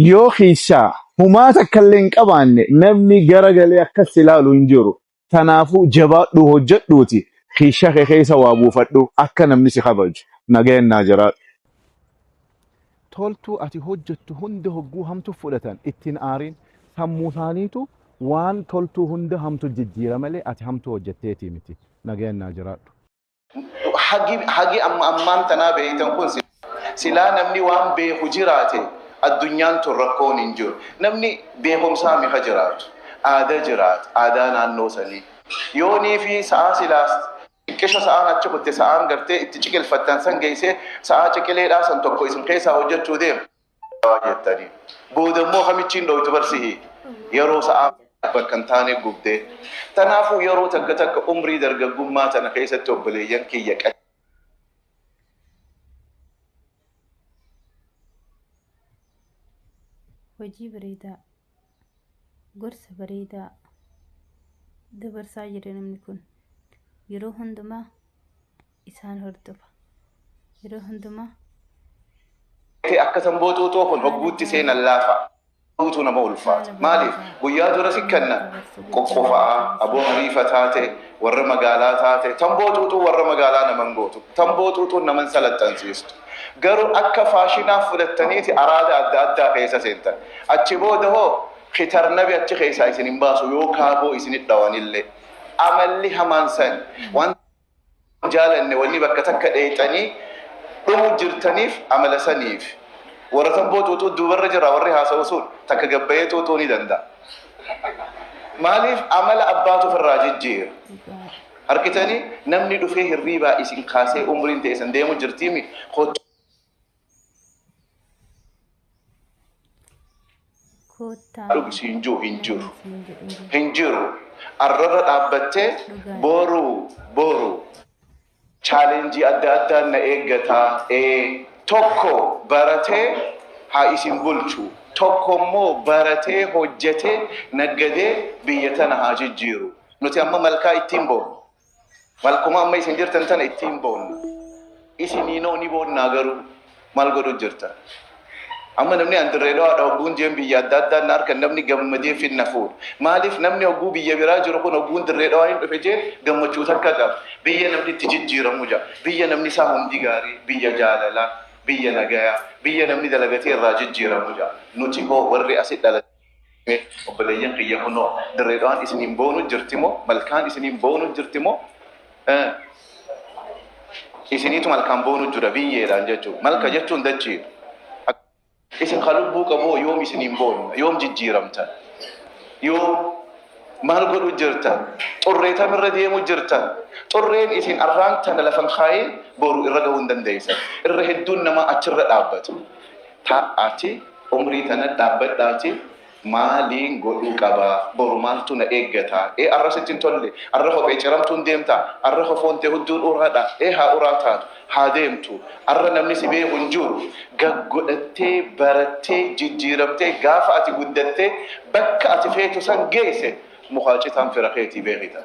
yoo keessaa humaa takkallee hin qabaanne namni gara galee akkas ilaalu hin jiru. Tanaafuu jabaadhuu hojjedhuuti kiisha kee keessa waa buufadhu akka namni si kabaju. Nagayan naa jiraadhu. Toltuu ati hojjettu hunda hogguu hamtu fudhatan ittiin aariin sammuu isaaniitu waan toltuu hunda hamtu jijjiira malee ati hamtuu hojjetteetii miti. Nagayan naa jiraadhu. hagi hagi amma ammaan tanaa beeytan kun si- silaa namni waan beeku jiraate addunyaan tun rakkoon hin jiru namni beekumsaa mika jiraatu aadaa jiraata aadaa naannoo sanii yoonii fi sa'aa silaas xiqqisho sa'aan achi kutte sa'aan gartee itti ciqilfattan san geeysee sa'aa ciqileedhaa san tokko isin keessaa hojjechuu deema Dawaa jettanii. Booda immoo hamichiin dhooytu barsihi. Yeroo sa'aa bakka hin taane gubdee. Tanaafuu yeroo takka takka umrii dargaggummaa tana keessatti obboleeyyan kiyya qad. Hojii bareedaa. gorsa bareedaa dabarsaa jira namni kun yeroo hundumaa isaan hordofa yeroo hundumaa akka san booxuuxoo kun hogguutti seenan laafa guutuu nama ulfaata maaliif guyyaa dura si kenna qoqqofaa aboo hariifa taate warra magaalaa taate tan booxuuxuu warra magaalaa naman gootu tan booxuuxuun naman salaxxansiistu Garuu akka faashinaa fudhattaniiti araada adda addaa keessa seentan. Achi booda hoo kitarnabi achi keessaa isin hin baasu yoo kaaboo isinit dhawanillee. Amalli hamaan sani. Wanta hin jaalanne wanni bakka takka dheeyxanii dhumu jirtaniif amala saniif. Warra tamboo xuuxuu duubarra jira warri haasa'u sun. Takka gad bahee xuuxuu ni danda'a. Maaliif amala abbaatu ofirraa jijjiira. Argitanii namni dhufee hirriibaa isin kaasee umriin teessan deemu jirtiimi kottu. Koottaa dhugi siin jiru hin jiru namni siin jedhu hin jiru. hin jiru arrarra dhaabbattee Dhugaa. boru boru chaalenjii adda addaan na eeggataa ee tokko baratee haa isin bulchu tokko immoo baratee hojjetee naggadee biyya tana haa jijjiiru Nuti amma malkaa ittiin boonu. Malkuma amma isin jirtan tana ittiin boonna. Isiniinoo ni boonnaa garuu maal godhu jirta? Amma namni an dirree dhawaadha hogguun jeen biyya adda addaa na harkan namni gammadee finna fuudha. Maaliif namni hogguu biyya biraa jiru kun hogguun dirree dhawaa hin dhufe jeen gammachuu takka qaba. Biyya namni itti jijjiiramu jira. Biyya namni isaa hundi gaarii, biyya jaalalaa, biyya nagayaa, biyya namni dalagatee irraa jijjiiramu jira. Nuti hoo warri asi dhalate. Mee obboleeyyan kiyya kunoo Dirree Dhawaan isiniin boonu jirti moo malkaan isiniin boonu jirti moo eh, isiniitu malkaan boonu jira biyyeedhaan jechuudha. Malka jechuun dachiidha. Ak- Isin kan lubbuu qaboo yoom isiniin boonna yoom jijjiiramtan yoom maal godhu jirta xurree tam irra deemu jirta xurreen isin arraan tana lafan kaa'ee boru irra ga'uu hin dandeessan irra hedduun namaa achirra dhaabbatu Ta, ati umrii tana dhaabbadhaati maaliin godhuu qaba? Boru maaltu na eeggata? Ee arra sitti hin tolle? Arra kophee ciramtuun deemta? Arra kofoon tee hudduun uraa dha? Ee haa uraa taatu, haa deemtu. Arra namni si beeku hin jiru. Gaggodhattee, barattee, jijjiiramtee gaafa ati guddattee bakka ati feetu san geesse mukaa citaan fira keetii beekita.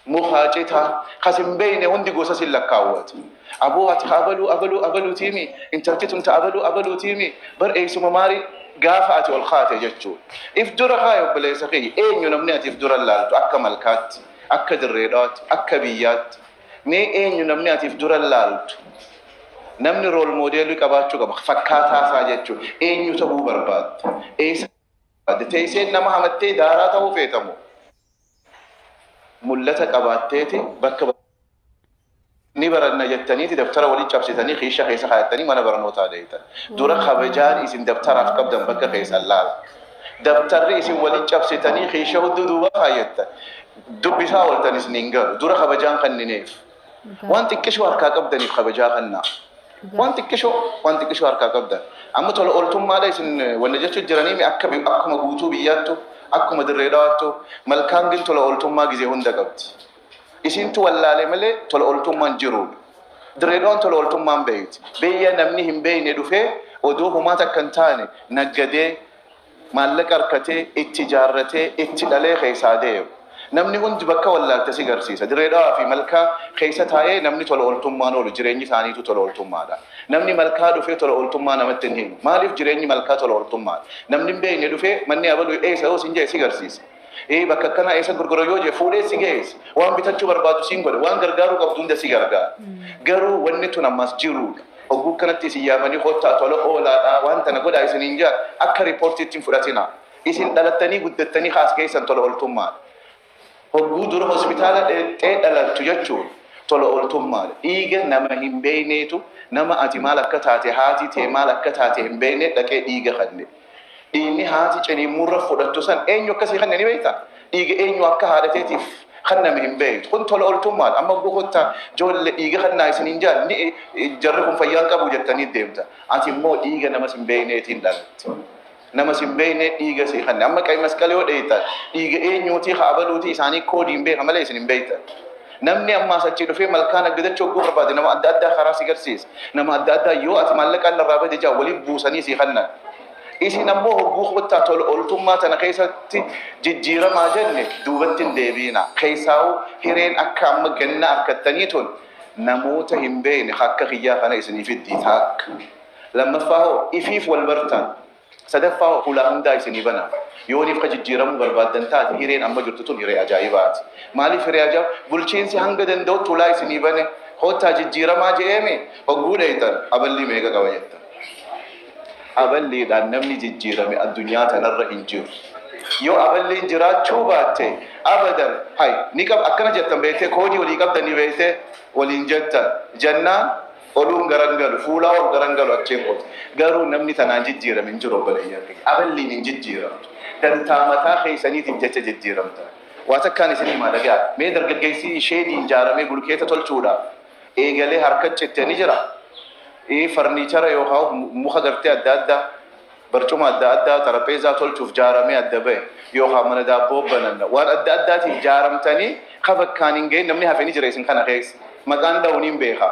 Mukaa citaa kas hin beeyne hundi gosa sin lakkaawwatu. Aboo ati ka abaluu abaluu abaluutiimi intalti tun ta abaluu abaluutiimi bar eeysuma maarii gaafa ati ol kaate jechuu. If dura kaayi obboleessa kiyya eenyu namni ati if dura laaltu akka malkaatti akka dirree dhawaatti akka biyyaatti mee eenyu namni ati if dura laaltu namni rool moodeelii qabaachuu qaba fakkaataa isaa jechuu eenyu ta'uu barbaadda eeysa barbaadda teeysee nama hamattee daaraa ta'uu feetamoo. mul'ata qabaatteeti bakka ni baranna jettaniiti dabtara walitti cabsitanii kiisha keessa kaayattanii mana barnootaa deetan. Dura kabajaan isin dabtaraaf qabdan bakka keessan laala. Dabtarri isin walitti cabsitanii kiisha hudduu duuba kaayattan dubbisaa ooltan isin hin galu. Dura kabajaan kannineef. Waan xiqqishoo harkaa qabdaniif kabajaa kannaa. Waan xiqqishoo, waan xiqqishoo harkaa qabdan. Amma tola ooltummaadha isin wanna jechu jiranii mi akka akkuma guutuu biyyaattu, akkuma dirree dhawaattu malkaan gin tola ooltummaa gizee hunda qabdi. Isintu wallaale malee tola ooltummaan jiruudha. Dirree dhawaan tola ooltummaan beeyti. Beeyya namni hin beeyne dhufee odoo humaa takka hin taane naggadee Maallaqa arkatee, itti ijaarratee, itti dhalee keessaa deema. Namni hundi bakka wallaalte si garsiisa. Dirree Dhawaa fi Malkaa keessa taa'ee namni tola ooltummaan oolu jireenyi isaaniituu tola ooltummaadha. Namni Malkaa dhufee tola ooltummaa namatti hin himu. Maaliif jireenyi Malkaa tola ooltummaadha. Namni hin beekne dhufee manni abaluu eessa yoo siin jedhe si garsiisa. Ee bakka akkanaa eessa gurgura yoo jee fuudhee si geessa. Waan bitachuu barbaadu siin godha. Waan gargaaruu qabdu hunda si gargaara. Garuu wanni tun ammaas jiruudha. Hogguu akkanatti isin yaamanii kottaa tola oolaadhaa waan tana godhaa isiniin je'an akka ripoortiitti hin fudhatinaa. Isin dhalattanii guddattanii ka as geessan tola ooltummaadha. Hogguu dura hospitaala dheexxee dhalattu jechuun tola ooltummaadha. Dhiiga nama hin beeyneetu nama ati maal akka taate haati tee maal akka taate hin beeyne dhaqee dhiiga kanne. Dhiigni haati ciniinmuurra fudhattu san eenyu akka sii kenne ni beektaa? Dhiiga eenyu akka haadha teetiif kenname hin beektu. Kun tola ooltummaadha. Amma abboo kottaa joolle dhiiga kennaa isiniin jaan ni jarri kun fayyaa hin qabu jettanii deemta. Ati immoo dhiiga nama sin beekneetiin dhalatte. Nama sin beeknee dhiiga sii kenne. Amma qayi masqala yoo dheeytan dhiiga eenyuutii ka abaluutii isaanii koodii hin beeka malee isin hin beektan. Namni amma as achii dhufee malkaa naggadachuu hogguu barbaade nama adda addaa karaa si garsiisa. Nama adda addaa yoo ati maallaqaan narraa bade jaa waliin buusanii sii kannan. Isin ammoo hogguu kottaa tola ooltummaa tana keessatti jijjiiramaa jenne duubatti hin deebiina. Keessaawuu hireen akka amma ganna arkattanii tun namoota hin beekne akka kiyyaa kana isinii fiddii taakka. Lammaffaa hoo ifiif wal bartan. Sadaffaa hulaa hundaa isinii bana. Yoo nifka jijjiiramuu barbaaddan taate hireen amma jirtu tun hiree ajaa'ibaati. Maaliif hiree ajaa'ib? Bulchiinsi hanga danda'utti hulaa isinii bane. Kottaa jijjiiramaa je'eemi hogguu dheyxan aballii meeqa qaba jettan. Aballiidhaan namni jijjiirame addunyaa tanarra hin jiru. Yoo aballiin jiraachuu baatte abadan hay ni qab akkana jettan beektee koodii walii qabdan ni beektee waliin jettan jennaan Oluun garan galu, fuulaa ol garan galu achiin qote. Garuu namni tanaan jijjiirame hin jiru obboleeyyan kiyya. Aballiin hin jijjiiramtu. Dantaa mataa keessaniitiif jecha jijjiiramtan. Waa takkaan isin himaa dhaga'a. Mee dargaggeessi sheedii ijaaramee bulkeeta tolchuudhaaf eegalee harka citte ni jira? Ee farniichara yookaan muka gartee adda addaa Barcuma adda addaa, xarapheezaa tolchuuf jaaramee adda bahe yookaan mana daabboo bananna waan adda addaatiif jaaramtanii ka bakkaan hin gahin namni hafe ni jira isin kana keessa? Maqaan dhahu niin beeka.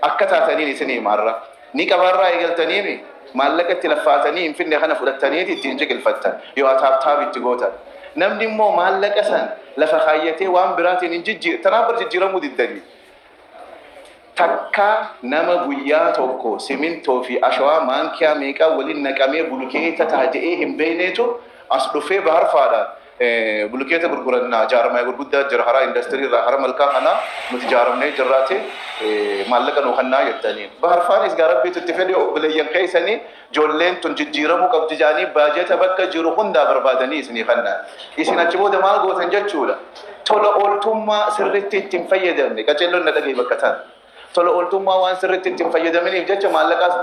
Akka taataniin isinii hima har'a. Ni qaba irraa eegaltaniimi? Maallaqa itti laffaatanii hin fidne kana fudhattaniiti ittiin ciqilfattan yoo ataaptaap itti gootan. Namni immoo maallaqa san lafa kaayyatee waan biraatiin hin jijjiir tanaan bar jijjiiramuu diddanii. Takka nama guyyaa tokko simintoo fi ashawaa maankiyaa meeqaa waliin naqamee bulukeeta taha je'ee hin beeyneetu as dhufee baharfaadhaan bulukeeta gurgurannaa jaarmaya gurguddaa jira haraa industirii irraa hara malkaa kanaa nuti jaaramnee jirraati maallaqa nuu kannaa jettaniin. Baharfaanis gaa rabbiitu itti fedhe obboleeyyan keessanii Ijoolleen tun jijjiiramuu qabdi jedhanii baajata bakka jiru hundaa barbaadanii isinii kanna. Isin achi booda maal gootan jechuudha? Tola ooltummaa sirriitti itti hin fayyadamne. Qaceelloon na dhagahi bakka tana. Tola ooltummaa waan sirriitti itti hin fayyadaminiif jecha maallaqaas.